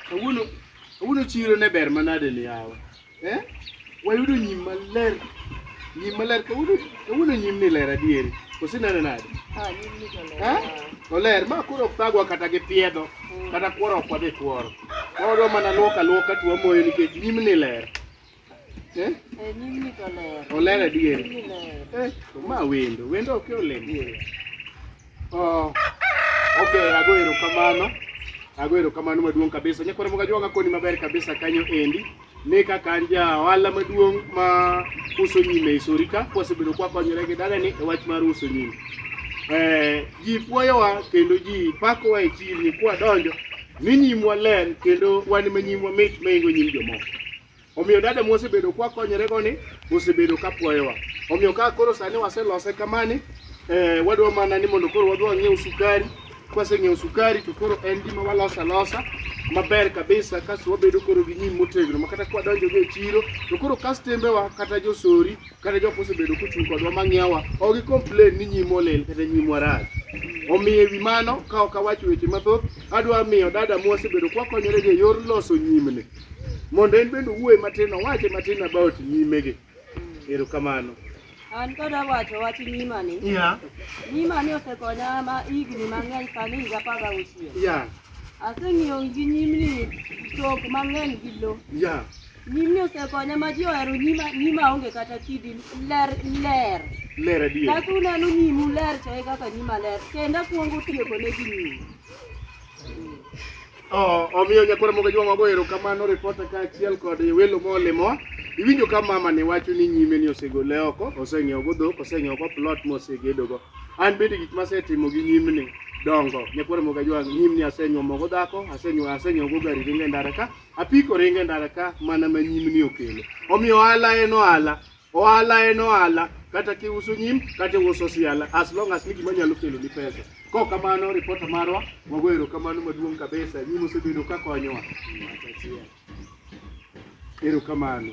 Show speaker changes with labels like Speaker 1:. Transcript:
Speaker 1: Kawuono kawuono chiro ne ber manade ni yawa. Eh? Wayudo nyim maler. Nyim maler kawuono kawuono nyim ni ler adieri. Kosi nene nade? Ah, nyim ni to
Speaker 2: ler. Eh? Oler ma koro
Speaker 1: ok thagwa kata gi piedho kata kworo ok wadhi kworo. Wadwa mana luoka luoka to wamoyo nikech nyim ni ler. Eh? Eh,
Speaker 2: nyimni to ler. Oler adier.
Speaker 1: Eh, to ma wendo, wendo ok olem. Oh. Okay, ago erokamano. Ago erokamano maduong' kabisa. Nyakwara moga jwanga koni maber kabisa kanyo endi. Ne kaka an ja ohala maduong' ma uso nyime e Sorika, kwasebedo kwa konyore gi dala ni e wach mar uso nyime. Eh, ji puoyowa kendo ji pakowa e chirni kwa donjo ni nyimwa ler kendo wan ma nyimwa mit maingo nyim jomoko. Omiyo dada mwasebedo kwa konyorego ni osebedo ka puoyowa. Omiyo ka koro sani waselose kamani, eh, wadwa mana ni mondo koro wadwa ng'iew sukari. Kwaseng'iew sukari to koro en gima walosa losa maber kabisa kasto wabedo koro gi nyim motegno makata kwadonjo go e chiro to koro kastembewa kata josori kata jok mosebedo kochung' kodwa mang'iewa ok gi complain ni nyim olil kata nyim warach omiyo ewi mano ka ok awacho weche mathoth adwa miyo dada mwasebedo kwakonyorego e yor loso nyimni mondo en bende owuoye matin owache matin about nyimegi erokamano an kod
Speaker 2: awacho wach nyimani yeah. nyimani osekonya ma higni mang'eny sani higa apar gauchiel yeah. aseng'iyo gi nyimni chok mang'eny gi lo yeah. nyimni osekonya ma ji ohero nyima, nyima onge kata kidi ler ler ler adier
Speaker 1: kaka uneno nyimu
Speaker 2: ler to e kaka nyima ler kendo akwongo tieko ne gi nyimu
Speaker 1: Omiyo nyakwar mogo jwa mago ero kamano ripota ka achiel kod welo molimo iwinjo ka mama ni wacho ni nyime ni osegole oko oseng'iewo go dhok oseng'iewo go plot mosegedo go an bende gik masetimo gi nyimni dongo nyakwar mogo jwa nyimni asenyuo mogo dhako asenyuo asenyuo go gari ringe ndara ka apiko ringe ndara ka mana ma nyimni okelo omiyo ala en ohala Ohala en ohala, kata kiuso nyim, kata iuso siala, as long as ni gima nyalo kelo ni pesa. Kok kamano ripota marwa, wago erokamano maduong' kabisa, nyinyi mosebedo ka konyowa. Erokamano.